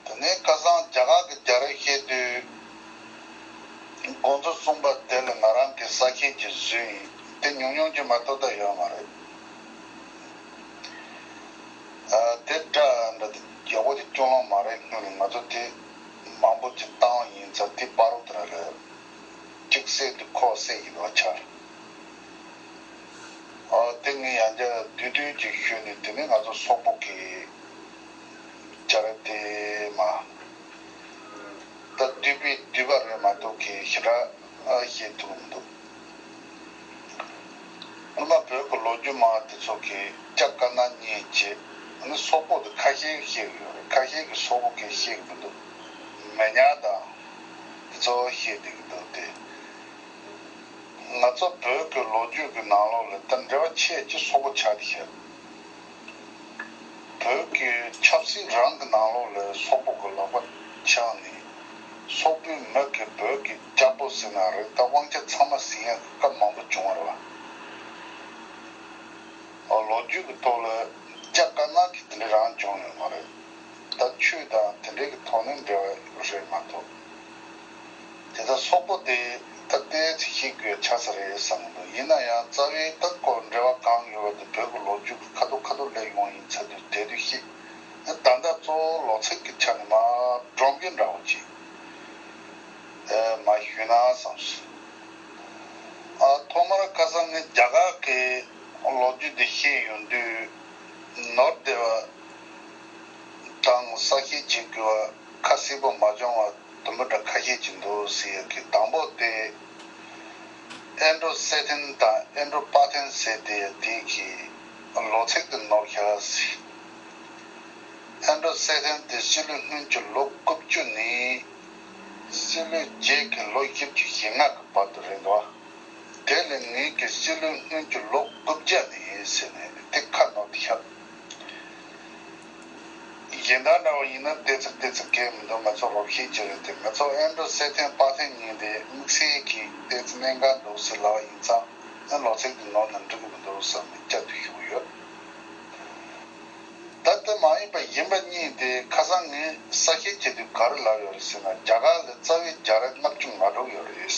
དེ་ནས་བསྐལ་བཟང་རྒྱ་གར་གྱི་རྒྱ་རིགས་ཤེས་དུས། དགོངས་ཚུལ་གསུངས་པ་དེ་ལ་ང་རང་གིས་ས་ཁྱེད་ཀྱི་བཟོས་ཡིན་དེ་ཉུང་ཉུང་རྒྱུ་མ་གཏོགས་ད་ཡོད་མ་རེད། དེ་འདྲ་འདྲ་དེ་རྒྱལ་པོ་དེ་སྐྱོ་ལོང་མ་རེད་སྔོན་ནས་ང་ཚོ་དེ་མང་པོ་ཅིག་བཏང་ཡིན་ཚ་དེ་པར་རོ་དེ་ར་ལས་གཅིག་བསད་དུས་ཁོ་བསད་ཡིན་ལོ་ཆ། ཏིང་ངེ་ཡང་བརྒྱ་བསྡུས་བསྡུས་ཀྱིས་ཤོད་ནས་དེ་ནི་ང་ཚོ་སོག་པོ་གི་བྱ་ར་དེ་མ་གཏོགས་བསྡུས་པས་བསྡུས་པ་རེད་མ་གཏོགས་ཀྱི་ཞེ་དྲག་ཤེས་ཐུབ་མི་འདུག་སྔོན་མ་བོད་ཀྱི་ལོ་རྒྱུས་མང་བ་དེ་ཚོ་གི་ལྕགས་དཀར་ནག་གཉིས་བྱེད་ནི་སོག་པོ་དེ་ཁ་ཤས་ཤེས་གི་ཡོད་རེད་ཁ་ཤས་ཀྱི་སོག་པོ་གིས་ཤེས་གི་མི་འདུག་མེ་ཉག་དང་དེ་ཚོ་ཤེས་བསྡད་གི་འདུག་སྟེ། ང་ཚོ་བོད་ཀྱི་ལོ་རྒྱུས་ཀྱི་ནང་ལོགས་ལས་དོན་འབྲེལ་བ་ཆེས་ཀྱི་སོ་པོ་ཆགས་ཀྱི་ཡོད། བོད་ཀྱི་ཆབ་སྲིད་རང་གི་ནང་ལོགས་ལས་སོག་པོ་གི་ལག་པ་འཆང་ནས། སོག་པོའི་མི་གིས་བོད་ཀྱི་སྐྱག་པོ་ཟིན་ན་རེད་ད་དབང་ཆ་ཚང་མ་ཟིན་ཡག་གི་སྐབས་མང་པོ་བྱུང་བ་རེད་བ། ལོ་རྒྱུས་ཀྱི་ཐོག་ལ་སྐྱག་དཀར་ནག་གི་དེ་འདྲའི་རང་བྱུང་ཡོད་མ་རེད། ད་ཆོས་དང་དེ་འདྲའི་གི་ཐོག་ནས་འབྲེལ་བ་རེད་མ་གཏོགས། དེ་ལྟར་སོག་པོ་དེས་སྟག་རྟའི་རྩིས་ཁྱི་དགོས་ཆགས་ས་རེད་བསམ་གྱི་འདུག་ཡིན་ན་ཡང་རྩ་བའི་སྟག་སྐོར་འབྲེལ་བ་གང་ཡོད་པ་དེ་བོད་ཀྱི་ལོ་རྒྱུས་ཀྱི་ཁ་ཐུག་ཁ་ཐུག་ལས་ཡོང་ཡིན་ཚ་དུས་དད་དུས་ཤེས། ད་ལྟ་གཙོ་བོ་ལོ་ཚིགས་ཀྱི་ཆ་ནས་མ་བགྲང་རྒྱུ་འདྲ་བོ་ཅི། མ་ཞུས་ན་བསམས་སོང། ཐོག་མར་ཁ་སང་ངས་རྒྱ་གར་གྱི་ལོ་རྒྱུས་དེ་ཤེས་ཡོང་དུས། ནོར་སྡེ་བ་དང་ས་སྐྱའི་རྗེ་དགེ་བ། ཁ་བསིལ་པོ་མ་འབྱུང་བར་དུམ་བུ་འདྲ་ཁ་ཤས་ཀྱིས་འདུ་ཟེར་ཡོད་ཀི་དང་པོ་སྟེ། ཨེན་ཀྲོ་སེ་ཐིན་དང་ཨེན་ཀྲོ་པཱ་ཐིན་ཟེར་དེ་དེ་གི་ལོ་ཚིགས་དུ་ནོར་ཤ་ར་སི། ཨེན་ཀྲོ་སེ་ཐིན་དེ་སྤྱི་ལོའི་སྔོན་གྱི་ལོ་དགུ་བཅུ་ནས་སྤྱི་ལོའི་རྗེས་ཀྱི་ལོ་བཞི་བཅུ་ཞེ་ལྔ་གི་བར་དུ་རེད་འདུག་དེ་ལས་ངེད་ཀྱིས་སྤྱི་ལོའི་སྔོན་གྱི་ལོ་དགུ་བརྒྱ་ནས་ཡིན་ཟེར་ནས་དེ་ཁ་ནོར་དུ་ཤར། གཞན་དག་འདྲ་བ་ཡིན་ན་ལྟས་ཚིག་ལྟས་ཚིག་གས་མི་འདུག་ང་ཚོ་རོགས་ཤེས་ཀྱི་རེད་དེ་ང་ཚོ་ཨེ་འགྲོ་གསལ་ཐེངས་དཔག་ཐེངས་གཉིས་རེད་དམིགས་བསལ་གྱིས་ལྟས་ཚིག་གནད་འགག་འདུག་ཟེར་ལ་བ་ཡིན་ཙང་ཨེ་ལོག་ཚིག་འདི་ནོར་ནས་འགྲིག་གི་མི་འདུག་བསམ་ནས་བསྐྱར་དུ་ཞུགས་ཡོད། ད་ལྟ་མ་ཡིན་པ་ཡིན་པ་གཉིས་དེ་ཁ་སང་ངས་གསལ་བཤད་བྱས་དུས་ག་རེ་ལབ་ཡོད་རེད་ཟེར་ན་རྒྱ་གར་ལས་རྩ་བའི་རྒྱ་རད་ལྔ་བཅུ་ང་དྲུག་ཡོད་རེད།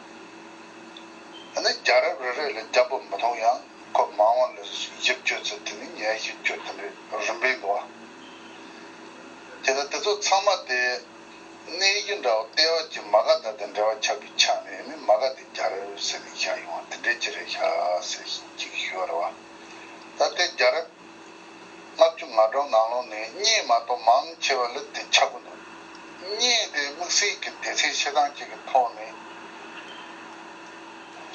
ཨ་ནི་རྒྱ་རབས་རེ་རེ་ལ་རྒྱ་པོ་མི་མཐོང་ཡང་ཁོ་མ་འོངས་ལ་བཞི་བཅོ་བརྩི་དེ་ནི་ངའི་བཞི་བཅོ་བརྩི་འདྲའི་རིམ་པས་འགྲོ་བ། དེ་ལ་དེ་ཚོ་ཚང་མ་དེ་གནས་གཞི་འདྲ་བོ་ལྟེ་བ་གཅིག་མ་ག་ད་དེ་འདྲ་བ་ཆགས་པའི་ཆ་ནས་ཨ་ནི་མ་ག་དེ་རྒྱ་རབས་ཟེར་ནས་བཞག་ཡོང་བ་དེ་འདྲའི་ཅི་རེད་ཤ་ཟེར་བཞིན་གཅིག་གིས་ཞུ་བར་བ། ད་ལྟའི་རྒྱ་རབས། ལྔ་བཅུ་ང་གྲངས་ནང་ལོགས་ནས་རྙེད་མ་གཏོགས་མང་ཆེ་བ་ལེབ་དེ་ཆགས་པོ་འདུག་རྙེད་དེ་དམིགས་བསལ་གྱི་སྡེ་ཚན་བཤད་སྟངས་གཅིག་གི་ཐོག་ནས་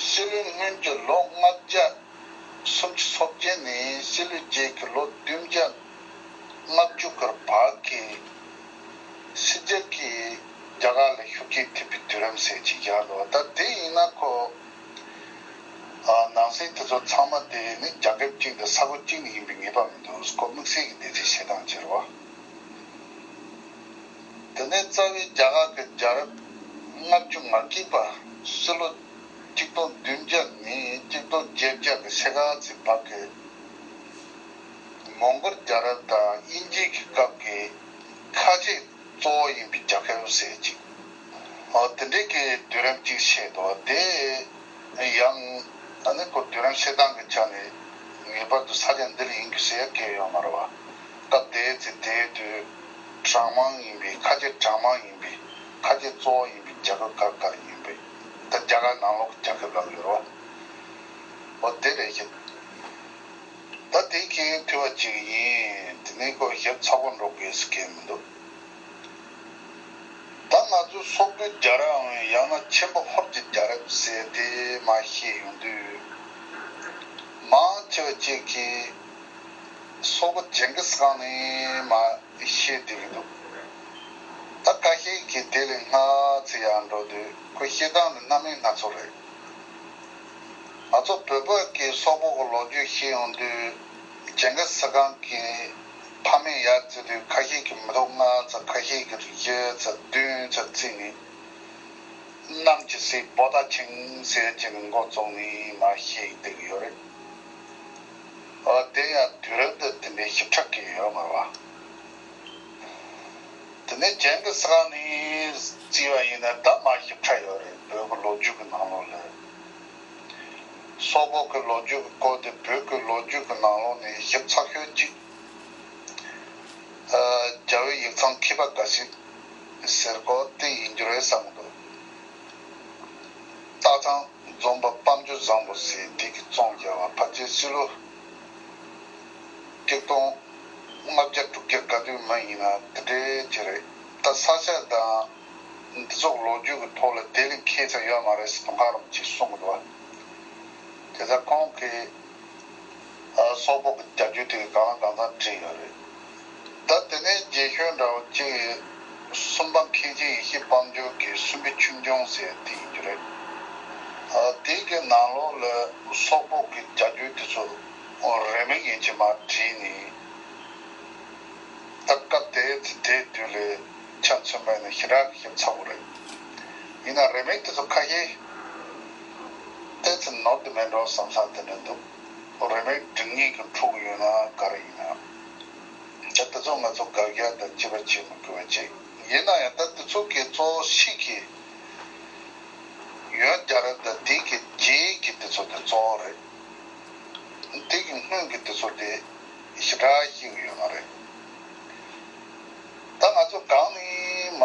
ཤེས་ལོས་སྔོན་གྱི་ལོ་ལྔ་བརྒྱ་སུམ་ཅུ་ཚོ་བརྒྱད་ནས་ཤེས་ལོས་རྗེས་ཀྱི་ལོ་བདུན་བརྒྱ་ལྔ་བཅུ་གར་བར་གྱི་ཕྱི་རྒྱལ་གྱི་རྒྱ་གར་ལ་ཤུགས་རྐྱེན་ཐེབས་པའི་དུས་རིམ་ཟེར་གྱི་ཡ་ལོ་ད་དེ་ཡིན་ན་ཁོ། ནང་སེལ་དེ་ཚོ་ཚང་མ་དེ་རིགས་ནི་རྒྱ་ཁབ་གཅིག་དང་ས་ཁུལ་གཅིག་ནས་ཡིན་པའི་ངེས་པ་མི་འདུག་སྐོར་དམིགས་བསལ་གྱི་འདེད་ཚིག་བྱེད་སྟངས་སྤྱིར་བ། དེ་ནས་རྩ་བའི་རྒྱ་གར་གྱི་རྒྱལ་རབས་ལྔ་བཅུ་ང་གཅིག་པ་སྲིད་ལོ་གཅིག་སྟོང་བདུན་བརྒྱ་ནས་གཅིག་སྟོང་བརྒྱད་བརྒྱ་གྱི་ཤེ་ཁཱ་ཙི་བར་གྱི་མོང་གོལ་རྒྱལ་རབས་དང་དབྱིན་ཇིའི་གི་སྐབས་ཀྱི་ཁ་ཆེ་གཙོ་བོ་ཡིན་པའི་རྒྱལ་ཁབ་ཟེར་ཅིག། དེ་འབྲེལ་གྱི་བསྡུས་རིམ་གཅིག་བཤད་དོ། དེ་ཡང་ད་ནི་སྐོར་བསྡུས་རིམ་བཤད་སྟངས་ཀྱི་ཆ་ནས་ངེས་པར་དུ་ས་ཆ་འདི་ལ་ཡིན་དགོས་ཟེར་ཡ་སྐད་ཡོད་མ་རེད་བ། སྐབས་དེའི་ཚེ་དེའི་དུས་གྲངས་མང་ཡིན་པས་ཁ་ཆེ་གྲངས་མང་ཡིན་པས་ཁ་ཆེ་གཙོ་བོ་ཡིན་པའི་རྒྱ་ཁབ་གར་གར་ཡིན་པས་ད་རྒྱ་གར་ནང་ལོག་གི་རྒྱ་ཁབ་ལབ་ཡོད་རོ། འོ་དེ་རེད་ཤི། ད་དེ་ཁྱེད་ཐུས་བ་གཅིག་ཡིན་དེ་ནས་སྐོར་ཞིབ་ཚགས་པོ་འགྲོ་དགོས་ཟེར་སྐད་མི་འདུག། ད་ང་ཚོས་སོག་པོའི་རྒྱ་རབས་འམ་ཡང་ན་ཆེན་པོ་ཧོར་གྱི་རྒྱ་རབས་ཟེར་དེ་མ་ཤེས་ཡོང་དུས། མང་ཆེ་བ་ཅིག་གིས་སོག་པོ་ཇེན་གིས་ཁང་ནི་མ་ཤེས་དུས་ཀྱི་འདུག་ད་ཁ་ཤས་ཀྱིས་དེ་ལས་སྔ་ཚེ་ཡར་འགྲོ་དུས་ཁོས་ཤེས་སྟངས་ནི་གནའ་མི་སྣ་ཚོ་རེད། ང་ཚོ་བོད་པ་གིས་སོག་པོ་གི་ལོ་རྒྱུས་ཤེས་ཡོང་དུས་ཇེན་གིས་ཁང་གིས། ཕ་མེས་ཡར་བརྩི་དུས་ཁ་ཤས་ཀྱིས་མི་རྟོག་ལྔ་ཚ་ཁ་ཤས་ཀྱིས་རིག་བྱེད་ཚ་བདུན་ཚ་བརྩིས་ནས། གནམ་གྱི་སྲས་པོ་ད་ཆིང་ཟེར་གྱི་མགོ་བཙུགས་ནས་མ་ཤེས་ཀྱི་བསྡད་ཀྱི་ཡོད་རེད། ཨོ་དེ་ཡང་དུས་རབས་འདི་དེ་འདྲའི་ཞིབ་ཕྲ་གི་ཡོད་མོད། དེ་ནས་གྱེན་གྱི་ས་ནས་བརྩིས་པ་ཡིན་ན་ད་མ་ཞིབ་ཕྲ་ཡོད་རེད་བོད་ཀྱི་ལོ་རྒྱུས་ཀྱི་ནང་ལོགས་ལས། སོག་པོ་ཀྱི་ལོ་རྒྱུས་ཀྱི་སྐོར་དེ་བོད་ཀྱི་ལོ་རྒྱུས་ཀྱི་ནང་ལོགས་ནས་ཞིབ་ཚགས་ཤོད་ཅིག། རྒྱ་བོད་ཡིག་ཚང་མཁས་པ་འགའ་ཞིག་ཟེར་སྐོར་དེ་ཡིན་རྒྱུ་རེད་བསམ་གི་འདུག་སྟག་ཚང་རྫོང་པ་དཔའ་འབྱོར་བཟང་པོ་ཟེར་དེ་གི་ཙོང་རྒྱལ་བ་ཕ་ཚའི་སྲིད་ལོ་སྐྱིག་སྟོང་ལྔ་བརྒྱ་དྲུག་བརྒྱ་ག་དུས་མི་ཡིན་ན་དེ་འདྲའི་རྗེས་རེད་ད་ས་ཆ་དང། འདི་ཚོགས་ལོ་རྒྱུས་ཀྱི་ཐོག་ལ་དེ་ལས་མཁས་ཙམ་ཡོད་མ་རེད་ཟེར་དུང་དཀར་རམ་ཅིག་གསུང་གི་འདུག་བ། དེ་ལྟར་ཁོང་གིས་སོག་པོ་གི་རྒྱ་རྒྱུད་དེ་ག་ལ་གང་ཙམ་བྲིས་ཡོད་རེད་ད། དེ་ནས་རྗེ་གཤོལ་འདྲ་བོ་གཅིག་ཡིན། སུམ་པ་མཁན་ཆེན་ཡེ་ཤེས་དཔལ་འབྱོར་གྱི་སུམ་པའི་ཆུང་ཆུང་ཟེར་དེ་ཡིན་རྒྱུ་རེད། དེའི་གི་ནང་ལོགས་ལ་སོག་པོ་གི་རྒྱ་རྒྱུད་དེ་ཚོ་རེ་མིག་ཡིན་གྱི་མ་བྲིས་ནས། ད་སྐབས་དེའི་ཚེ་དེའི་དུས་ལས། ཆ་མཚོན་པ་ནི་ཞི་རགས་ཞིབ་ཚགས་པོ་རེད། ཡིན་ན་རེ་མིག་དེ་ཚོ་ཁ་ཤས་བལྟས་ཚེ་ནོར་དུ་མེད་འགྲོ་བསམ་ས་དེ་འདྲ་འདུག་རེ་མིག་འབྲིང་གཉིས་ཀྱི་འཁྲུག་གི་ཡོད་ན་ག་རེ་ཡིན་ཨང། ད་དེ་ཚོ་ང་ཚོ་དགག་རྒྱག་དང་དཔྱད་པ་བྱེད་མི་དགོས་པ་ཅིག་ཡིན་ན་ཡང་ད་དེ་ཚོ་གི་གཙོ་ཤི་གི་ཡོད་རྒྱ་རེད་ད་དེ་གི་རྗེས་ཀྱི་དེ་ཚོ་དེ་གཙོ་བོ་རེད། དེ་གི་སྔོན་གི་དེ་ཚོ་དེ། ཞེ་དྲག་ཤིག་ཡོད་མ་རེད། ད་ང་ཚོ་གང་ནས་མ་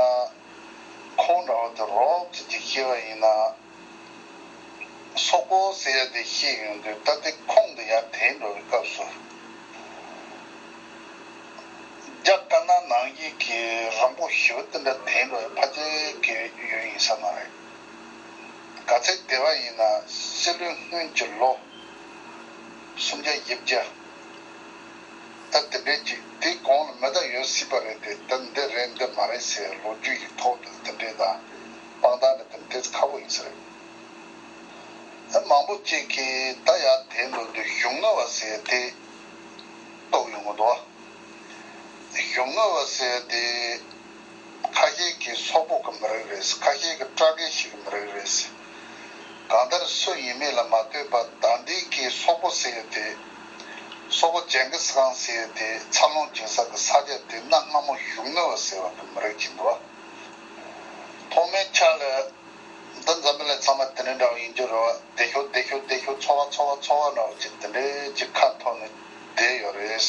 ཁོང་འདྲ་བ་དེ་རོབ་ཀྱི་དེ་ཤེས་པ་ཡིན་ན། སོག་པོ་ཟེར་ཡ་དེ་ཤེས་ཡོང་དུས་ད་དེ་ཁོང་དུ་ཡར་དེད་འགྲོ་བའི་སྐབས་སུ། རྒྱ་དཀར་ནག་ནང་ཡིག་གི་རིང་པོ་ཞི་བ་དེ་འདྲ་དེད་འགྲོ་བའི་ཕ་རྒྱལ་གྱི་ཡུལ་ཡིན་ས་མ་རེད། ག་ཚད་དེ་བ་ཡིན་ན་སྲིད་བློན་སྔོན་གྱི་ལོ་སུམ་བརྒྱ་དབྱིབས་བརྒྱ། ད་དེ་འདྲའི་ཅིག་དེའི་གོང་ལ་མི་དག་ཡོད་སྲིད་པ་རེད་དེ་ད་འདི་རེད་འདི་མ་རེད་ཟེར་ལོ་རྒྱུས་ཀྱི་ཐོག་ཏུ་དེ་འདྲའི་དང་དཔང་རྟགས་འདི་དེ་འདྲས་ཁ་བོ་ཡིན་ས་རེད། ཨེ་མང་པོ་ཅིག་གིས་ད་ཡར་དེའི་འགྲོ་དུས་གཞུང་དངུལ་བ་ཟེར་དེ་རྟོགས་ཡོང་གི་འདུག་བ། གཞུང་དངུལ་བ་ཟེར་དེ། ཁ་ཤེལ་གྱི་སོག་པོ་གི་མི་རིགས་རེད། ཁ་ཤེལ་གྱི་སྤྲ་རྒན་ཞིག་གི་མི་རིགས་རེད། གང་ལྟར་སུ་ཡིན་མིན་ལ་མ་ལྟོས་པར་ཟླ་འདིའི་སྐད་སོག་པོ་ཟེར་ཡོད་དེ། སོག་པོ་ཇན་གི་སི་ཁང་ཟེར་ཡོད་དེ་འཚར་ལོངས་བྱུང་ས་གི་ས་ཆ་དེ་གནའ་སྔ་མོ་བཞུགས་མོལ་བ་ཟེར་བ་གི་མི་རིགས་ཀྱི་འདུ་བ། ཐོག་མའི་ཆ་ལ། འདི་འཛམ་བུ་ལས་ཚང་མ་དེ་འདྲའི་འདྲ་བ་ཡིན་རྒྱུ་རེད། བདེ་ཤོག་བདེ་ཤོག་བདེ་ཤོག་འཚོ་བ་འཚོ་བ་འཚོ་བ་འདྲ་བ་ཅིག་དེ་འདྲའི་ཅིག་ཁ་འཐོར་ནས་བསྡད་ཡོད་རེད།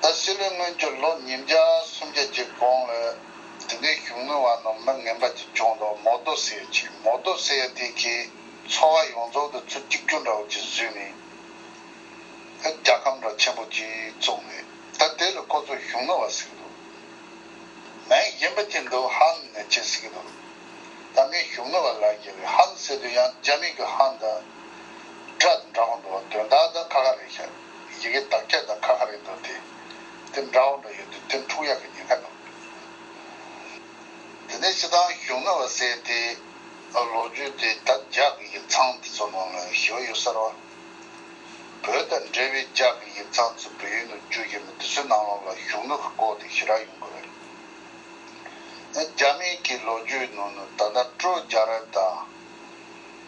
ད་སྲིད་ལོའི་སྔོན་གྱུར་ལོ་ཉིས་བརྒྱ་སུམ་བརྒྱད་ཀྱི་གོང་ལ་དེ་འདྲའི་གཞུང་དངུལ་བ་རྣམས་མི་ངན་པ་གཅིག་ལྕོང་འདུག་མོ་རྡོ་སེ་ཡ་ཆེ་མོ་རྡོ་སེ་ཡ་དེ་གའི་ཚོ་བ་ཡོངས་རྫོགས་དུ་ཚུར་གཅིག་གྱུར་འདྲ་བོ་གཅིག་བཟོས་ནས་རྒྱལ་ཁམས་འདྲ་ཆེན་པོ་གཅིག་བཙུགས་ནས་ད་དེ་ལ་ཁོ་ཚོ་གཞུང་དངུལ་བ་ཟེར་གྱི་འདུག་མའི་གཞན་པ་གཅིག་འདུག་ཧན་ནེ་ཆེ་ཟེར་གྱི་འདུག་ད་ངས་གཞུང་དངུལ་བ་ལབ་ཀྱི་རེད་ཧན་ཟེར་དུས་ཡང་རྒྱ་མིང་གི་ཧན་དང་སྒྲ་དང་འདྲ་པོ་འདུག་དོན་དག་དང་ཁ་ཁ་རེད་ཤག། ཡི་གེ་དག་བརྒྱ་དང་ཁ་ཁ་རེད་འདུག་དེ། དེ་འདྲ་བོ་འདྲ་ཡོད་དུས་དེ་འཁྲུག་ཡག་གི་ཉེན་ཁ་འདུག། དེ་ནས་སྤྱི་བཏང་གཞུང་ནོར་བ་བསད་དེ། ལོ་རྒྱུས་དེ་དག་རྒྱག་གི་ཡིག་ཚང་དེ་ཚོ་ནང་ལ་ཞི་བ་ཡོད་གསར་བ། བོད་དང་འབྲེལ་བའི་རྒྱག་གི་ཡིག་ཚང་ཚོ་བོད་ཡུལ་ནང་བསྐྱུར་གྱི་མེད་དེ་ཚོའི་ནང་ལོག་ལ་གཞུང་ནོར་གི་འགོག་དེ་ཞི་རག་ཡོང་དགོས་རེད། རྒྱ་མིང་གི་ལོ་རྒྱུས་ནང་ནས་ད་ལྟ་སྤྲོ་རྒྱག་རབས་དང།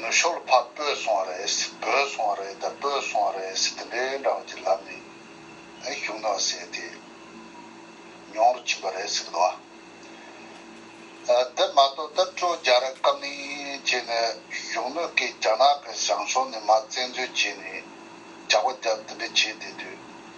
ནུ་ཞོལ་ཕག་སྤོས་སོང་བ་རེད་སྤོས་སོང་བ་རེད་དང་སྤོས་སོང་བ་རེད་ཟེར་དེ་འདྲའི་འདྲ་བ་ཅིག་ལབ་ནས་གཞུང་དང་བསྲེས་ཏེ་མྱོང་རུ་ཕྱིན་པ་རེད་ཟེར་གི་འདུག་ཨ། དེ་མ་གཏོགས་ད་སྤྲོ་རྒྱ་རི་བཀའ་མིང་བྱས་ནས་གཞུང་ནུ་ཀས་རྒྱ་ནག་གི་བྱང་ཕྱོགས་ནས་མ་བཙན་འཛུལ་བྱས་ནས་ཇག་པ་རྒྱབ་དེ་འདྲ་བྱས་བསྡད་དུས།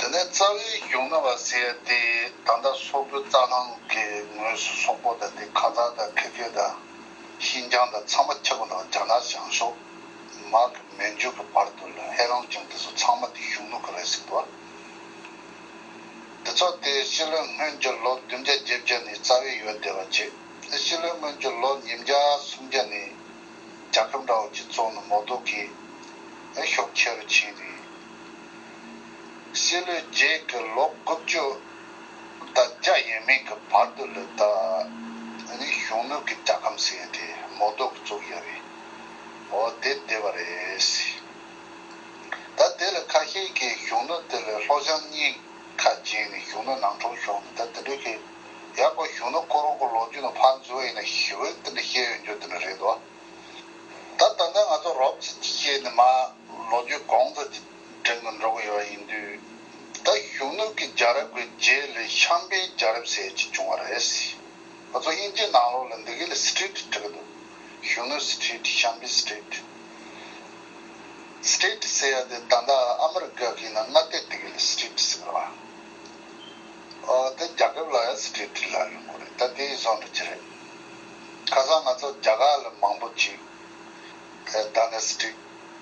དེ་ནས་རྩ་བའི་གཞུང་རྣམ་པར་བསྲེ་ཡ་སྟེ་ད་ལྟ་སོག་པོའི་རྩ་ལྷང་གི་ངོས་སུ་སོག་པོ་དང་དེ་ཁ་ཛག་དང་ཁི་གྷི་དང་ཤིན་ཅང་དང་ཚང་མ་ཁྱབ་པ་དང་རྒྱ་ནག་བྱང་ཕྱོགས་མར་གི་མན་ཇུ་གི་བར་དུ་ལ་ཧེ་རང་ཅང་དེ་ཚོ་ཚང་མ་དེ་གཞུང་ལུགས་གི་རེད་ཟེར་དུ་བ། དེ་ཚོ་དེ་ཕྱི་ལོའི་སྔོན་གྱི་ལོ་བདུན་བརྒྱ་བརྒྱད་བརྒྱ་ནས་རྩ་བའི་ཡོད་བསྡད་པ་རྗེས་ཕྱི་ལོའི་སྔོན་གྱི་ལོ་ཉིས་བརྒྱ་སུམ་བརྒྱ་ནས་རྒྱ་ཁབ་འདྲ་བོ་གྱི་ཙོང་ནི་མོ་རྡོ་གིས་ཤོག་ཁྱེར་རུ་ཕྱིན་རིགས། སྲིད་ལོའི་རྗེས་ཀྱི་ལོ་དགུ་བཅུ་དང་བརྒྱ་ཡས་མས་ཀྱི་བར་དུ་ལོས་ད་ནི་གཞུང་ནུས་ཀྱི་རྒྱལ་ཁམས་ཟེར་ཏེ་མོ་རྡོག་གིས་བཙུགས་ཡོད་རེད། འོ་དེ་བདེ་བ་རེད། ད་དེ་ལས་ཁ་ཤས་ཀྱིས་གཞུང་ནུས་དེ་ལས་ལྷོ་བྱང་གཉིས་ཁ་བརྗེས་ནས་གཞུང་ནུས་ནང་འཁྲུངས་ཤོག་ནས་ད་དེ་འདྲའི་ཁེ་ཡག་པོ་གཞུང་ནུས་ཁོ་རང་གི་ལོ་རྒྱུས་ནང་ཕར་འཛུལ་བ་ཡིན་ན་ཞི་བས་དེ་འདྲ་བཤད་ཡོད་རྒྱུ་དེ་འདྲ་རེད་དོ། ད་ད་ལྟ་ང་ཚོ་རོབ་ཙི་ཅི་བྱས་ནས་མ་ལོ་རྒྱུས་གོང་ཚ་རྒྱུ་གྲལ་དུ་འགྲོ་གི་ཡོད་ཡིན་དུས། ད་གཞོན་ནུ་གི་རྒྱ་རབས་ཀྱི་རྗེས་ལས་གཤམ་པའི་རྒྱ་རབས་ཟེར་གྱི་བྱུང་བ་རེད། ང་ཚོ་དབྱིན་ཇིའི་ནང་ལོགས་ལ་འདི་གའི་ལ Street བྲི་གི་འདུག་གཞོན་ནུ Street གཤམ་པའི Street། State ཟེར་ཡ་དེ་ད་ལྟ་ཨ་མི་རི་ཀ་གིས་ནང་མངའ་སྡེ་དེ་གའི་ལ Street ཟེར་གི་རེད། ཨོ་དེ་རྒྱ་ཁབ་ལ་ཡང Street བྲི་ལ་ཡོང་གི་རེད་ད་དེའི་བཟོ་འདྲ་ཅི་རེད། ཁ་སང་ང་ཚོ་རྒྱ་གར་ལ་མང་པོ་ཅིག་ད་ལ Street།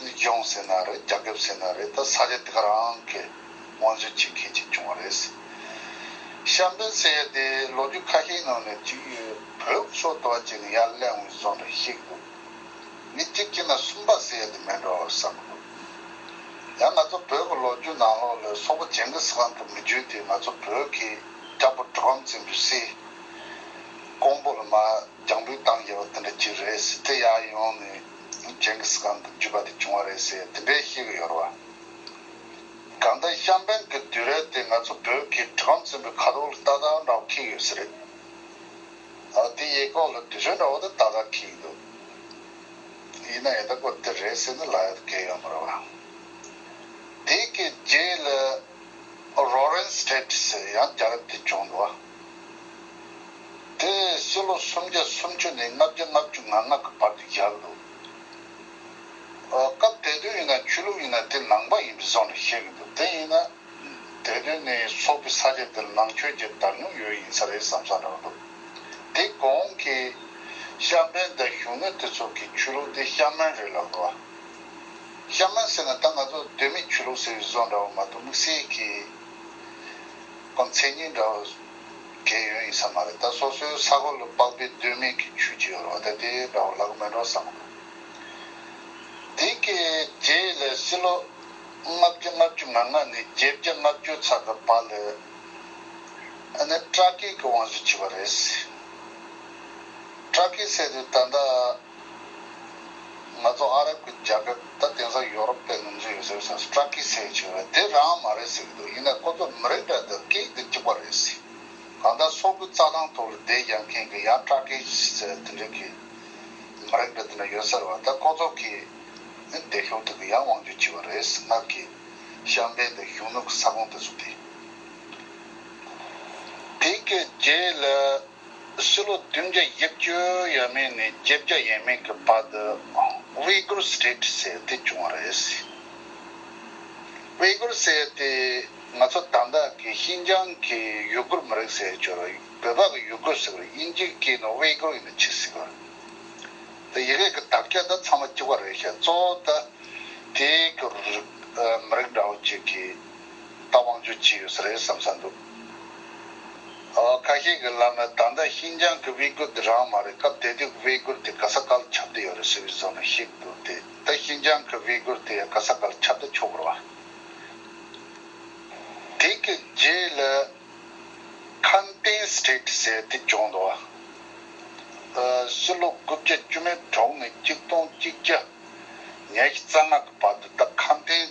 ནུས་སྦྱོང་ཟེར་ན་རེད་རྒྱ་ཁེབས་ཟེར་ན་རེད་ད་ས་ཆ་འདི་ག་རང་གི་དབང་འཛུལ་བྱེད་མཁན་ཅིག་བྱུང་བ་རེད། ཤམ་བན་ཟེར་ཡ་དེ་ལོ་རྒྱུས་ཁ་ཤས་ནང་ནས་བྲིས་ཡོད་བོད་ཨུ་ཚོགས་དོ་བ་བྱས་ནས་ཡར་གླེང་བའི་བཟོ་འདྲ་ཞིག་འདུག་མི་གཅིག་གཅིག་ན་གསུམ་པ་ཟེར་ཡ་དེ་མིན་འགྲོ་བསམ་གི་འདུག་ཡང་ང་ཚོ་བོད་ཀྱི་ལོ་རྒྱུས་ནང་ལོག་ལོས་སོག་པོ་ཇེང་གི་སི་ཁང་དུ་མི་བརྒྱུད་དེ་ང་ཚོ་བོད་ཀྱི་དྲག་པོ་གྲུ་གམ་བཙན་པོའི་སྲས་ཀོང་པོ་ལ་མ་རྒྱང་འབུད་བཏང་ཡས་པ་དེ་འདྲ་ཅིག་རེད་དེ་ཡར་ཡོང་ནས། ནི་ཇེང་གིས་ཁཱན་དུ་འཇུས་པ་དེ་བྱུང་བ་རེད་ཟེར་དེ་འདྲའི་ཤེས་ཀྱི་ཡོད་རེད་བ། གང་ལྟར་ཤམ་བན་གྱི་དུས་རབས་དེ་ང་ཚོ་བོད་ཀྱི་གྲུ་གམ་ཟིན་པའི་ཁ་དོག་ལ་ཏག་ཏག་འདྲ་བོ་ཁེལ་ཡོད་ས་རེད། དེ་ཡེ་ཀོག་ལ་དུས་ཚོད་འདྲ་བོ་དེ་ཏག་ཏག་ཁེལ་གྱི་འདུག་ཡིན་ན་ཡོད་ད་ཀོ་དེ་རེད་ཟེར་ནས་ལ་ཡོད་དུ་ཁེལ་ཡོད་མ་རེད་བ། དེ་གའི་རྗེས་ལ་རོ་རེན་སྟྲེ་ཏི་ཟེར་ཡང་རྒྱ་རབས་དེ་བྱུང་འདུག་བ། དེ་སྲིད་ལོ་སུམ་བརྒྱ་སུམ་ཅུ་ནས་ལྔ་བརྒྱ་ལྔ་བཅུ་ང་ལྔ་གི་བར་དུ་བཞག་འདུག་སྐབས་དེ་དུས་ཡིན་ན་ཆོས་ལུགས་ཡིན་ན་དེ་ནང་པ་ཡིན་པའི་བཟང་ནས་བཤད་གི་འདུག་དེ་ཡིན་ན་དེ་དུས་ནས་སོག་པོའི་ས་ཆ་འདི་ལ་ནང་ཆོས་ཀྱི་དར་ཉུང་ཡོད་ཡིན་ས་རེད་བསམ་བསམ་རང་འདུག་དེ་གོང་གི་ཤམ་པའི་འདི་གཞུང་ནོད་དེ་ཚོ་གི་ཆོས་ལུགས་འདི་ཤམ་མན་རེད་ལབ་གི་བ། ཤམ་མན་ཟེར་ན་ད་ང་ཚོ་གདོད་མའི་ཆོས་ལུགས་ཟེར་བའི་བཟོ་འདྲ་བོ་མ་གཏོགས་དམིགས་བསལ་གྱི། ཁོ་མཚན་ཉིད་འདྲ་བོ་གས་ཡོན་ཡིན་ས་མ་རེད་ད་སོ་སོའི་ས་གོ་ལ་དཔག་པའི་སྡོད་མིག་གི་ཆུ་གཅིག་ཡོད་རོགས་ད་དེ་འདྲ་བོ་ལག་མི་འགྲོ་བསམ་མ་གོ། དེ་སྐད་རྗེ་ཡི་ལས་སྲིད་ལོ་ལྔ་བརྒྱ་ལྔ་བཅུ་ང་ལྔ་ནས་བརྒྱད་བརྒྱ་ལྔ་བཅུ་ཚ་གི་བར་ལ་ཨ་ནེ་ཀྲ་ཀེ་ཀི་བང་བཞི་བྱས་པ་རེད། ཀྲ་ཀེ་བསད་དུས་ད་ལྟ། ང་ཚོ་ཨ་རབ་ཀྱི་རྒྱལ་ཁབ་ད་དེང་སང་ཡོ་རོབ་པའི་ནང་འཛུལ་ཡོད་ཟེར་སོང་སྤྲ་ཁི་སེ་བྱས་པ་དེ་རང་མ་རེད་ཟེར་གྱི་འདུག་ཡིན་ནའི་ཁོ་ཚོ་མི་རིགས་འདྲ་དང་སྐད་ཡིག་འདྲ་གཅིག་པ་རེད་ཟེར། གང་ལྟར་སོག་པོའི་རྩ་ལྷང་ཐོག་རུ་བསྡད་ཡག་མཁན་གྱི་ཡང་སྤྲ་ཁི་སེ་དེ་འདྲ་གི་མི་རིགས་འདྲ་དེ་འདྲ་ཡོད་ཟེར་བ་ད་ཁོ་ཚོ་གི་འདས་ཤོར་དུས་ཀྱི་ཡང་དབང་བསྒྱུར་བྱས་པ་རེད་ཟེར་སྔར་གྱི་ཤམ་བྷེ་དང་གཞུང་ནུབ་ཀྱི་ས་ཁོངས་དེ་ཚོ་དེ། དེ་གའི་རྗེས་ལ། ཕྱི་ལོ་བདུན་བརྒྱ་ཡིག་བཅུ་ཡས་མས་ནས་བརྒྱད་བརྒྱ་ཡས་མས་ཀྱི་བར་དུ Uyghur State ཟེར་དེ་བྱུང་བ་རེད། Uyghur ཟེར་དེ་ང་ཚོ་དང་བདག་གི་ཤིན་ཅང་གི་ཡུ་གུར་མི་རིགས་ཟེར་ཆོག་བོད་པ་གི་ཡུ་གུར་ཟེར་བ་རེད་དབྱིན་ཇིའི་སྐད་ནང Uyghur ཡིན་ན་ཆི་ཟིག་རེད། ཡི་གེ་གི་དག་ཆ་ད་ཚང་མ་གཅིག་པ་རེད་ཤག་གཙོ་བོ་ད་དེའི་སྐོར་མི་རིགས་འདྲ་བོ་གཅིག་གིས་ད་དབང་བསྒྱུར་བྱས་ཡོད་ས་རེད་བསམ་ས་འདུག། ཁ་ཤས་ཀྱི་ལབ་ན་ད་ལྟ་ཤིན་ཅང་གི་དབྱི་གུར་དེ་རང་མ་རེད་སྐབས་དེ་དུས་ཀྱི་དབྱི་གུར་དེ་ག་ས་ག་ལ་ཁྱབ་གཏོ་ཡོད་རེད་ཟེར་བའི་བཟོ་ན་ཤེས་གི་འདུག་དེ་ལྟ་ཤིན་ཅང་གི་དབྱི་གུར་དེ་ཡང་ག་ས་ག་ལ་ཁྱབ་གཏོ་ཆོག་གི་རེད། དེ་གི་རྗེས་ལ་ཁན་ཏེན State ཟེར་དེ་བྱུང་འདུག་སུད་ལོ་དགུ་བརྒྱ་བཅུ་མེད་གྲོག་མེད་གཅིག་སྟོང་གཅིག་བརྒྱ་ཉེར་བཞི་རྩ་ལྔ་གི་བར་དུ་ད་ཁན་ཏེན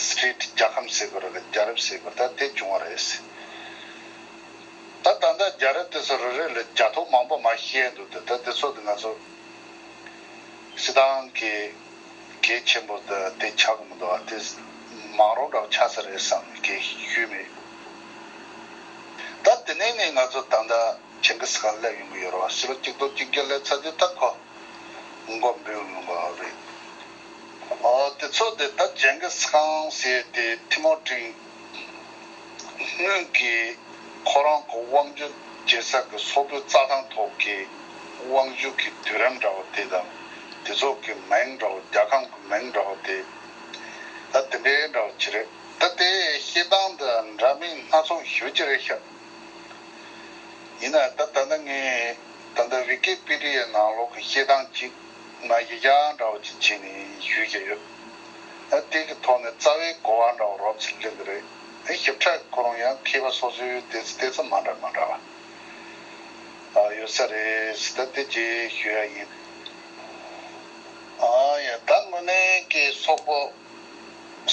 Street། རྒྱལ་ཁམས་ཟེར་བར་རྒྱལ་རབས་ཟེར་བར་ད་དེ་བྱུང་བ་རེད། ད་ད་ལྟ་རྒྱལ་རབས་དེ་ཚོ་རེ་རེ་ལ་རྒྱ་ཐོ་མང་པོ་མ་བཤད་འདུག་དེ་ད་དེ་ཚོ་དེ་ང་ཚོ་སི་ཏང་གི་གལ་ཆེན་པོ་ད་དེ་ཆགས་ཀྱི་མི་འདུག་ཨ་དེ་མང་རོགས་འདྲ་བ་ཆགས་ས་རེད་བསམ་ནས་གལ་ཞུས་མེད། ད་དེ་ནས་ནས་ང་ཚོ་ད་ད་ཆེན་གི་སི་ཁང་སླེབས་ཡོང་གི་ཡོད་རོགས་སི་ལོ་གཅིག་སྟོང་གཅིག་བརྒྱ་སླེབས་ཚར་དུས་ད་ཁོ་མགོ་འབུས་ཡོང་གི་རེད། དེ་ཚོ་དེ་ལྟར་ཇེན་གིས་ཁང་བཟས་ཏེ་ཐི་མོ་ཀྲིང་སྔོན་གྱི་ཁོ་རང་གི་དབང་བསྒྱུར་རྒྱལ་ས་གི་སོག་པོའི་རྩྭ་ཐང་ཐོག་གི་དབང་བསྒྱུར་གྱི་དུས་རིམ་འདྲ་བ་དེ་དང་དེ་ཚོ་གི་མིང་འདྲ་བ་རྒྱལ་ཁམས་ཀྱི་མིང་འདྲ་བ་དེ་ད་དེ་འདྲའི་འདྲ་བ་ཅི་རེད། ད་དེ་ཤེས་སྟངས་འདི་འདྲ་མིན་སྣ་ཚོགས་ཞུ་ཅི་རེད་ཤག། ཡིན་ན་ད་ད་ལྟ་ངས་ད་ལྟ Wikipedia ནང་ལོག་གི་ཤེས་སྟངས་ཅིག་ང་ཡི་གེ་ཨང་འདྲ་བོ་ཅིག་བྱིན་ནས་ཞུས་ཀྱི་ཡོད། དེ་གི་ཐོག་ནས་རྩ་བའི་གོ་བ་འདྲ་བོ་རོབ་ཙིག་གླེང་གི་རེད། ཞིབ་ཕྲ་གི་ཁོ་རང་ཡང་མཁས་པ་སོ་སོའི་དེ་ཚོ་དེ་ཚོ་མ་འདྲ་མ་འདྲ་བ་ཡོད་ས་རེད་ད་དེ་རྗེས་ཞུས་ཡ་ཡིན། ཡང་ད་དངོས་གནས་ཀྱི་སོག་པོ་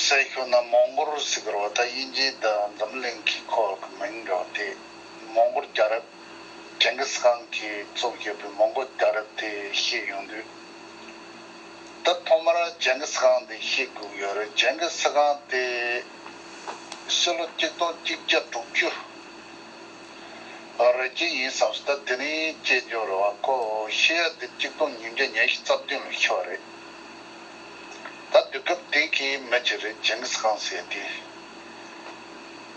ཟེར་ཞོག་ན་མོང་གོར་ཟིག་རོ་ད་དབྱིན་ཇི་དང་འཛམ་གླིང་གི་ཁོག་གི་མིང་འདྲ་བོ་དེ་མོང་གོར་རྒྱ་རབ། ཀྲེང་གིས་ཁང་གི་གཙོ་བཞེས་པའི་མོང་གོལ་དགའ་རབ་དེ་ཤེས་ཡོང་དུས། ད་ཐོག་མར་ཀྲེང་གིས་ཁང་དེ་ཤེས་དགོས་ཡོད་རེད་ཀྲེང་གིས་ཁང་དེ་ཕྱི་ལོ་གཅིག་སྟོང་གཅིག་བརྒྱ་དྲུག་ཅུ་རེ་བཅས་ཡིན་བསམ་སྲིད་ད་དེ་ནི་དཔྱད་འཇོག་རེད་བ་ཀོ་ཤེས་ཡ་དེ་གཅིག་སྟོང་ཉིས་བརྒྱ་ཉེར་བཞི་རྩ་བདུན་ལོ་ཤི་བ་རེད་ད་དུས་སྐབས་དེ་གའི་མི་གཅིག་རེད་ཀྲེང་གིས་ཁང་ཟེར་དུས།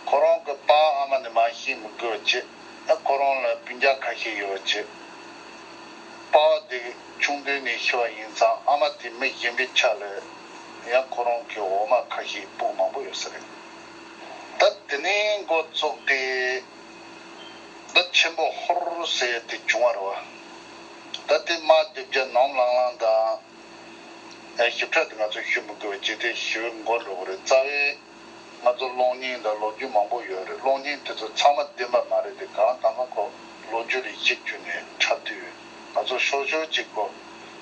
ཁོ་རང་གི་པ་ཨ་མ་ནི་མ་ཤེས་མི་དགོས་ཀྱི་ཨ་ཁོ་རང་ལ་སྤུན་རྒྱ་ཁ་ཤས་ཡོད་ཀྱི། པ་བ་དེ་ཆུང་དུས་ནས་ཤི་བ་ཡིན་ཙང་ཨ་མ་དེ་མི་གཞན་པའི་ཆ་ལས་ཡང་ཁོ་རང་གི་འོ་མ་ཁ་ཤས་སྤུ་མང་པོ་ཡོད་ས་རེད། ད་དེ་ནས་འགོ་བཙུགས་ཏེ་ད་ཆེན་པོ་ཧོར་ཟེར་དེ་བྱུང་བ་རེད་བ། ད་དེ་མ་སྡེ་བརྒྱ་ནོམ་ལང་ལང་དང། ཞིབ་ཕྲ་དེ་ང་ཚོས་ཞུ་མི་དགོས་ཀྱི་དེ་ཞུ་འགོ་འགྲོ་གི་རེད་རྩ་བའི། ང་ཚོར་གློག་བརྙན་དང་ལོ་རྒྱུས་མང་པོ་ཡོད་རེད་གློག་བརྙན་དེ་ཚོ་ཚང་མ་བདེན་པ་མ་རེད་དེ་གང་དང་གང་ཁོག་ལོ་རྒྱུས་རིགས་གཅིག་བརྒྱུད་ནས་འཁྲབ་དུས་ང་ཚོ་ཤོར་ཤོར་གཅིག་གོ།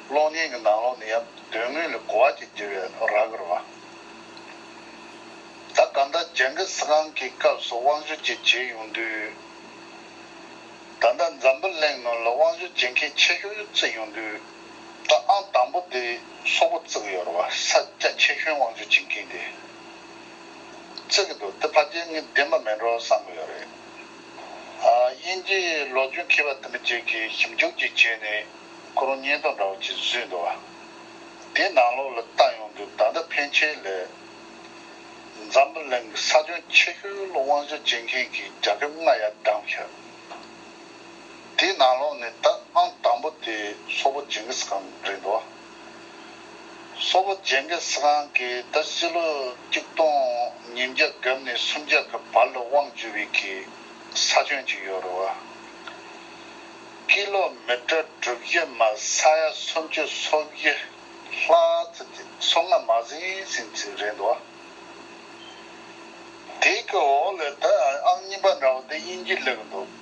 གློག་བརྙན་གྱི་ནང་ལོག་ནི་ཡང་དོན་དངོས་ལས་གོ་བ་གྱི་རྒྱལ་བའི་ར་གར་བ། ད་ག་ཟླ་ཇན་གི་སི་ཁང་གི་སྐབས་སུ་དབང་ཞུ་བཅས་བྱས་ཡོང་དུས། ད་ཟླ་འཛམ་བུ་གླིང་ནང་ལ་དབང་ཞུ་བྱེད་མཁན་ཆེ་ཤོས་བཙུད་ཡོང་དུས། ད་ཨང་དང་པོ་དེ་སོག་པོ་བརྩིགས་ཡོད་རེད་བ་ས་སྐྱ་ཆེ་གཞོན་དབང་འཛུགས་བྱེད་མཁན་དེ་བརྩིགས་ཀྱི་འདུག་དེ་ཕ་རྒྱལ་ངས་བདེན་པ་མིན་རོགས་བསམ་གྱི་ཡོད་རེད། དབྱིན་ཇིའི་ལོ་རྒྱུས་མཁས་པ་དེ་མི་གཅིག་གིས་ཞིབ་འཇུག་ཅིག་བྱས་ནས་ཁོ་རང་བརྙན་ཐུང་འདྲ་བོ་ཅིག་བཟོས་འདུག་བ་དེ་ནང་ལོགས་ལ་ལྟ་ཡོང་དུས་ད་ལྟ་ཕན་ཆད་ལས། འཛམ་བུ་གླིང་གི་ས་གཞོན་ཆེ་གཞོན་དབང་འཛུགས་བྱེད་མཁན་གྱི་རྒྱ་ཁྱབ་རྔ་ཡག་སྒྲ་མཁས། དེའི་ནང་ལོགས་ནས་ད་ཨང་དང་པོ་དེ་སོ་པོ་ཇེང་གིས་ཁང་རེད་འདུག་སོ་པོ་ཇེང་གིས་ཁང་གིས་ད་སྤྱི་ལོ་གཅིག་སྟོང་ཉིས་བརྒྱ་གབ་ནས་སུམ་བརྒྱ་གི་བར་ལ་དབང་བཅུ་བའི་གི་ས་ཁྱོན་གཅིག་ཡོད་རུ་ཀི་ལོ་མི་ཏྲ་དྲུག་བཞི་མ་ས་ཡ་སུམ་བཅུ་སོ་བཞི་ལྷག་ཙི་ཏི་སོ་ལྔ་མ་ཟིན་ཟིན་ཙི་རེད་འདུག་དེའི་གི་འོག་ལས་ད་ཨང་གཉིས་པ་འདྲ་བོ་དེ་དབྱིན་ཇི་ལས་གི་འདུག།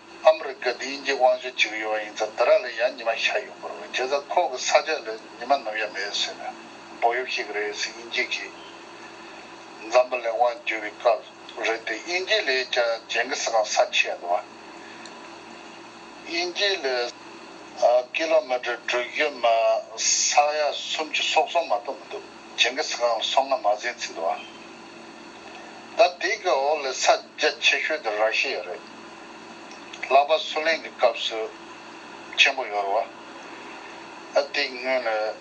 ཨ་མི་རི་ཀ་དེ་ཡིན་གྱི་དབང་ཤུགས་ཅིག་ཡོད་པ་ཡིན་ཚ་དེ་རག་ལས་ཡ་ཉི་མ་ཤ་ཡོད་པོ་རེད་བྱས་ཚ་ཁོག་གི་ས་ཆ་ལས་ཉི་མ་ནུབ་ཡ་མེད་ཟེར་ནས་བོག་ཡོབ་ཤིག་རེད་ཟེར་དབྱིན་སྐྱིད་ཀྱིས། འཛམ་བུ་ལས་དབང་བསྒྱུར་བའི་སྐབས་རེད་དེ་དབྱིན་སྐྱིད་ལས་ཀྱང་ཇེན་གི་སི་ཁང་ས་ཆེ་ཡ་འདུག་བ། དབྱིན་སྐྱིད་ལས། ཀི་ལོ་མི་ཀྲི་དྲུག་བཞི་མ་ས་ཡ་གསུམ་ཅུ་སོག་སོང་མ་གཏོགས་མི་འདུག་ཇེན་གི་སི་ཁང་ལ་སོང་ང་མ་ཟིན་ཚིག་འདུག་བ། ད་དེ་གི་འོག་ལས་ས་རྒྱ་ཆེ་ཤོས་དེ་ར་ཤི་ཡ་རེད། ལྷག་པར་སུ་ལེན་གི་སྐབས་སུ་ཆེན་པོ་ཡོར་བ། ཨ་དེ་སྔོན་ལས་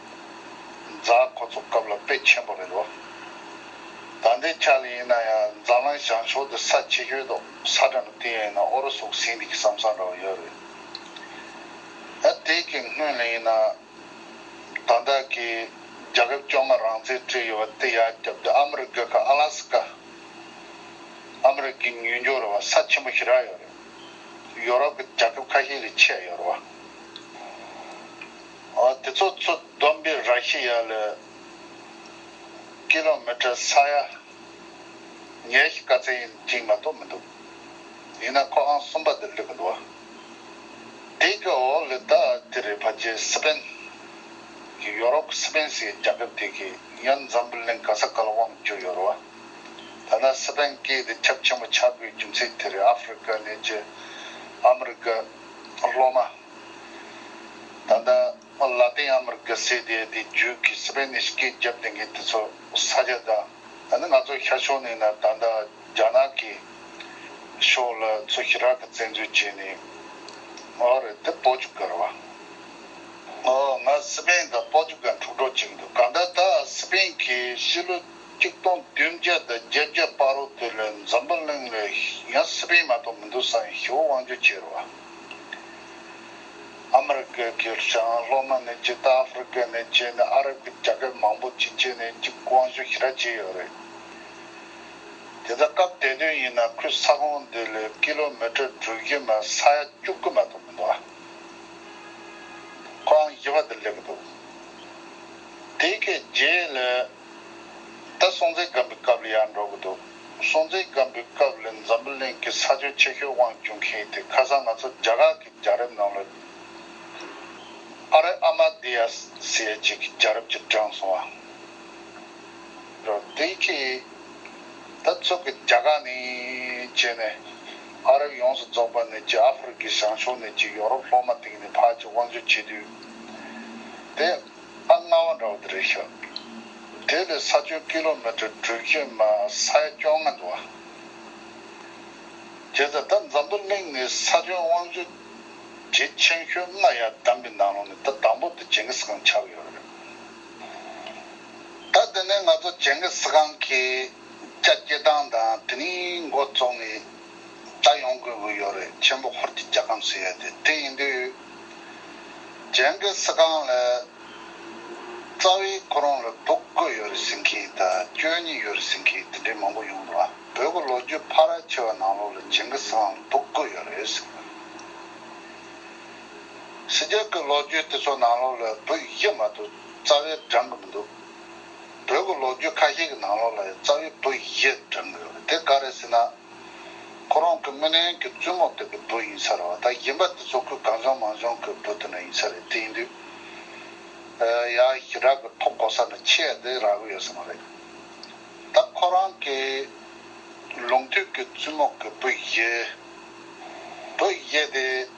རྫ་ཁོ་ཚོ་སྐབས་ལ་དཔེ་ཆེན་པོ་རེད་བ། ད་འདི་ཆ་ལ་ཡིན་ན་ཡང་རྫ་ལང་ཞང་ཕྱོགས་དེ་ས་ཆེ་ཤོས་དོག་ས་འདྲ་མི་དེ་ཡིན་ན་ཨོ་རོ་སུག་སིང་དེ་གི་སམ་ས་འདྲ་བ་ཡོར་རེད། ཨ་དེ་གི་སྔོན་ལས་ཡིན་ན། དང་བདག་གིས་རྒྱ་ཁབ་བཅོ་ལྔ་རང་བཙན་སྤྲད་ཡོད་པ་དེ་ཡར་བསྐྱབས་ཏེ་ཨ་མི་རི་ཀ་ཁ་ཨ་ལ་སི་ཀ་ཨ་མི་རི་ཀའི་ཉུལ་འགྱོར་བ་ས་ཆེན་པོ་ཞིག་རག་ཡོད་རེད། ཡོ་རོབ་ཀྱི་རྒྱ་ཁབ་ཁ་ཤས་ལས་ཆད་ཡོད་རེད། དེ་ཚོ་ཚོ་བསྡོམས་པས་ར་ཤི་ཡ་ལ་ཀི་ལོ་མི་ཀྲི་ས་ཡ་ཉེར་བཞི་ཀ་ཚད་ཡིན་གཅིག་མ་གཏོགས་མི་འདུག་ཡིན་ན་ཁོ་ཨང་གསུམ་པ་དེར་སླེབས་གི་འདུག་བ། དེའི་སྐབས་འོ་ལི་ད་ཏི་རི་བྷ་ཇེ་སི་པན་གྱིས་ཡོ་རོབ་སི་པན་སི་རྒྱལ་ཁབ་དེ་གའི་ཡོན་འཛམ་བུ་གླིང་ག་ས་ག་ལ་དབང་བསྒྱུར་ཡོད་རུང་ཐ་ན་སི་པན་སྐད་དེ་ཁྱབ་ཆེན་པོ་ཆགས་དགོས་རྒྱུ་མཚན་དེ་རི་ཨ་ཧྥི་རི་ཀ་ནས་ཀྱི་ཨ་མི་རི་ཀ་སློབ་མ་ད་ལྟ་ལ་ཏིང་ཨ་མི་རི་ཀ་སེ་དེ་དེའི་རྒྱུད་ཀྱི་སི་པན་ནི་སྐད་བརྒྱབ་ལྡན་མཁན་དེ་ཚོ་ས་ཆ་དང་ད་ནི་ང་ཚོ་ཤར་ཕྱོགས་ནས་ན་ད་ལྟ། རྒྱ་ནག་གི་ཕྱོགས་ལ་ཚོས་ཤི་རག་གི་བཙན་འཛུལ་བྱས་ནས་ང་ཨོ་རེད་དེ་པོ་ཅུ་གར་བ་ང་ཨོ་ང་སི་པན་དང་པོ་ཅུ་གར་འཁྲུག་འགྲོ་བྱེད་འདུག་གང་ལྟར་ད་སི་པན་གྱིས་ཕྱི་ལོ་གཅིག་སྟོང་བདུན་བརྒྱ་དང་བརྒྱད་བརྒྱ་པར་རོ་ཏོས་ལ་འཛམ་བུ་གླིང་ལ་ཡང་སི་པན་མ་གཏོགས་མི་འདུག་ས་ཡང་ཞི་བོ་དབང་བསྒྱུར་བྱས་རོ། ཨ་མི་རི་ཀ་གི་ཞང་སློབ་མ་ནས་ཇི་ལྟ་ཨ་ཧྥི་རི་ཀ་ནས་བྱས་ནས་ཨ་རབ་ཀྱི་རྒྱ་སྐད་མང་པོ་ཅི་བྱས་ནས་ཅི་དབང་བསྒྱུར་ཞི་རག་བྱས་ཡོད་རེད། དེ་འདྲ་སྐབས་བདེ་དོན་ཡིན་ན་ཁོས་ས་ཁོངས་འདི་ལས་ཀི་ལོ་མི་ཀྲི་དྲུག་བཞི་མ་ས་ཡ་བཅུ་དགུ་མ་གཏོགས་མི་འདུག་ཨ། ཁོའང་བཞི་བ་འདིར་སླེབས་ཀི་འདུག་དེའི་ཁའི་རྗེས་ལ། ད་སྲོང་བཙན་སྒམ་པོའི་སྐབས་ལ་ཡར་འགྲོ་གི་འདུག་སྲོང་བཙན་སྒམ་པོའི་སྐབས་ལ་འཛམ་བུ་གླིང་གི་ས་ཆོད་ཆེ་ཤོས་དབང་བྱུང་མཁན་དེ་ཁ་སང་ང་ཚོ་རྒྱ་གར་གི་རྒྱལ་རབས་ནང་ལ་ཨ་རེ་ཨ་མ་དེ་ཡ་སི་ཡ་བཅས་ཀྱི་རྒྱལ་རབས་ཀྱི་བགྲང་སོང་བ། རོ། དེའི་ཕྱིར། ད་ཚོད་ཀྱི་རྒྱ་གར་ནས་བྱས་ནས་ཨ་རབ་ཡོངས་སུ་རྫོགས་པ་ནས་ཀྱི་ཨ་ཧྥི་རི་ཀའི་བྱང་ཕྱོགས་ནས་ཀྱི་ཡོ་རོབ་ལྷོ་མ་སྟེང་ནས་བར་གྱི་དབང་ཆོས་བྱེད་དུས། དེ་ཨ་ལྔ་བ་འདྲ་བ་དེ་རེད་ཤག། དེ་ལས་ས་ཁྱོན་ཀི་ལོ་མི་ཀྲི་དྲུག་བརྒྱ་མ་ས་ཡ་བཅོ་ལྔ་འདུག་ཨ། བྱས་ཙང་ད་འཛམ་བུ་གླིང་ནས་ས་ཁྱོན་དབང་ཆོས་བྱེད་ཆེན་ཤོས་ལྔ་ཡ་དམ་གྱི་ནང་ལོགས་ནས་ད་དང་པོ་དེ་ཇེང་གིས་ཁང་ཆགས་ཡོད་རེད། ད་འདི་ནས་ང་ཚོ་བྱེང་གིས་ཁང་གི་ལྕགས་སྐྱེལ་སྟངས་དང་དེ་ནས་མགོ་བཙུགས་ནས་བལྟ་ཡོང་དགོས་ཀྱི་ཡོད་རེད་ཆེན་པོ་ཧོར་གྱི་སྐྱ་ཁམས་སུ་ཡོད་དེ་དེ་ཡིན་དུས་བྱེང་གིས་ཁང་ལ་རྩ་བའི་ཁོ་རང་ལ་འབུག་དགོས་ཡོད་རེད་ཟེར་མཁན་དང་སྐྱོན་གཉིས་ཡོད་རེད་ཟེར་མཁན་དེ་འདྲའི་མང་པོ་ཡོང་འདུག་བོད་ཀྱི་ལོ་རྒྱུས་ཕ་ར་ཆེ་བ་ནང་ལོགས་ལ་བྱེང་གིས་ཁང་ལ་འབུག་དགོས་ཡོད་རེད་ཟེར། ཞི་རྒྱག་གི་ལོ་རྒྱུས་དེ་ཚོ་ནང་ལོགས་ལ་བོད་ཡིག་ཡེ་མ་ཏུ་རྩ་བའི་བགྲང་གི་མི་འདུག་བོད་ཀྱི་ལོ་རྒྱུས་ཁ་ཤས་ཀྱི་ནང་ལོགས་ལ་ཡང་རྩ་བའི་བོད་ཡིག་ཡེ་བགྲང་གི་ཡོད་དེ་ག་རེ་ཟེར་ན། ཁོ་རང་གི་རྨི་ལམ་གྱི་བཙུན་མོ་དེ་གི་བུ་ཡིན་ས་རེད་བ་ད་ཡིན་པ་དེ་ཚོ་ཁོའི་གངས་ལྗོངས་མང་ལྗོངས་གི་བུ་དེ་འདྲ་ཡིན་ས་རེད་དེ་ཡིན་དུས། ཡང་ཞི་དྲག་གི་ཐོག་གོ་ས་ནས་ཆེས་བདེ་རག་གི་ཡོད་ས་མ་རེད། ད་ཁོ་རང་གི་ལུང་དུས་ཀྱི་བཙུན་མོ་གི་བུ་ཡིན། བོད་ཡིག་ཡེ་དེ།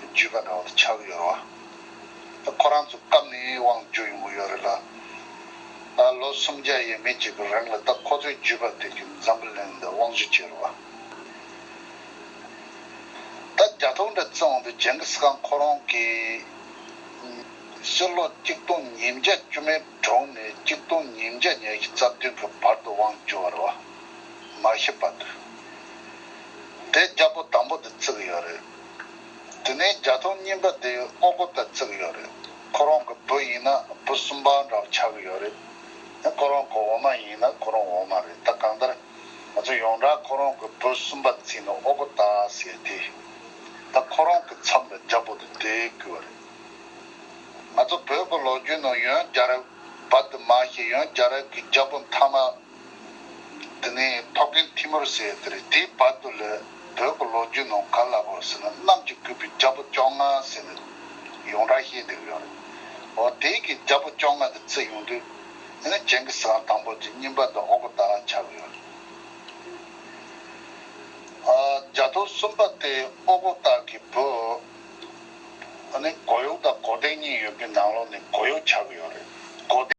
བརྗོད་པ་འདྲ་བོ་ཆགས་ཡོད་རེད། ཁོ་རང་ཚོ་སྐབས་ནས་དབང་བསྒྱུར་ཡོང་གི་ཡོད་རེད་ལ། ལོ་སུམ་བརྒྱ་ཡས་མས་ཀྱི་རིང་ལ་ད་ཁོ་ཚོའི་བརྗོད་པ་དེ་གི་འཛམ་བུ་གླིང་འདི་དབང་བཞི་བྱས་རེད། ད་རྒྱ་ཐོག་འདྲ་བརྩི་འོང་པའི་ཇེང་གིས་ཁང་ཁོ་རང་གི་སྤྱི་ལོ་གཅིག་སྟོང་ཉིས་བརྒྱ་བཅུ་མའི་དྲུང་ནས་གཅིག་སྟོང་ཉིས་བརྒྱ་ཉེར་བཞི་རྩ་བདུན་གི་བར་དུ་དབང་བསྒྱུར་བ་རེད། མ་ཤེས་པ་དུས་དེ་རྒྱ་པོ་དང་པོ་དེ་བརྩི་གི་ཡོད་རེད། དེ་ནས་རྒྱ་མཐོང་རྙིང་པ་དེ་ཨོ་སྒོ་པས་བརྩིགས་ཡོད་རེད། ཁོ་རང་གི་བུ་ཡིན་ན་བུ་གསུམ་པ་འདྲ་བོ་ཆགས་ཀྱི་ཡོད་རེད། ཁོ་རང་གི་འོ་མ་ཡིན་ན་ཁོ་རང་འོ་མ་རེད་ད་གང་ལྟར། ང་ཚོ་ཡོངས་གྲགས་ཁོ་རང་གི་བུ་གསུམ་པ་བརྩིས་ནས་ཨོ་སྒོ་རྟ་ཟེར་ཏེ། ད་ཁོ་རང་གི་མཚམས་ལ་རྒྱ་བོ་དེ་དེད་དགོས་པ་རེད། ང་ཚོ་བོད་ཀྱི་ལོ་རྒྱུས་ནང་ཡོན་རྒྱ་རབས་བར་དུ་མ་ཞེས་ཡོན་རྒྱ་རབས་ཀྱི་རྒྱ་བོ་མཐའ་མ་དེ་ནས་ཐོག་རྒན་ཐི་མུར་ཟེར་དེ་རེད་དེའི་བར་དུ་ལས་བོད་ཀྱི་ལོ་རྒྱུས་ནང་ག་ལ་བོར་ཟེར་ན་གནམ་གྱི་སྐུད་པའི་རྒྱལ་པོ་བཅོ་ལྔ་ཟེར་ནས་ཡོངས་གྲགས་ཤེས་བསྡད་ཀྱི་ཡོད་རེད། འོ་དེའི་གི་རྒྱལ་པོ་བཅོ་ལྔ་དེ་བརྩི་ཡོང་དུས་དེ་ནས་ཇེང་གི་སཱན་དང་པོ་གྱི་རྙིང་པ་དེ་འོག་གི་དག་ལ་ཆགས་ཀྱི་ཡོད་རེད། རྒྱ་ཐོ་གསུམ་པ་དེ་ཨོ་གོ་དག་གི་བུ། འོ་ནི་གོ་ཡོག་དང་གོ་ལྡེང་གཉིས་ཡོད་པའི་ནང་ལོགས་ནས་གོ་ཡོག་ཆགས་ཀྱི་ཡོད་རེད། གོ།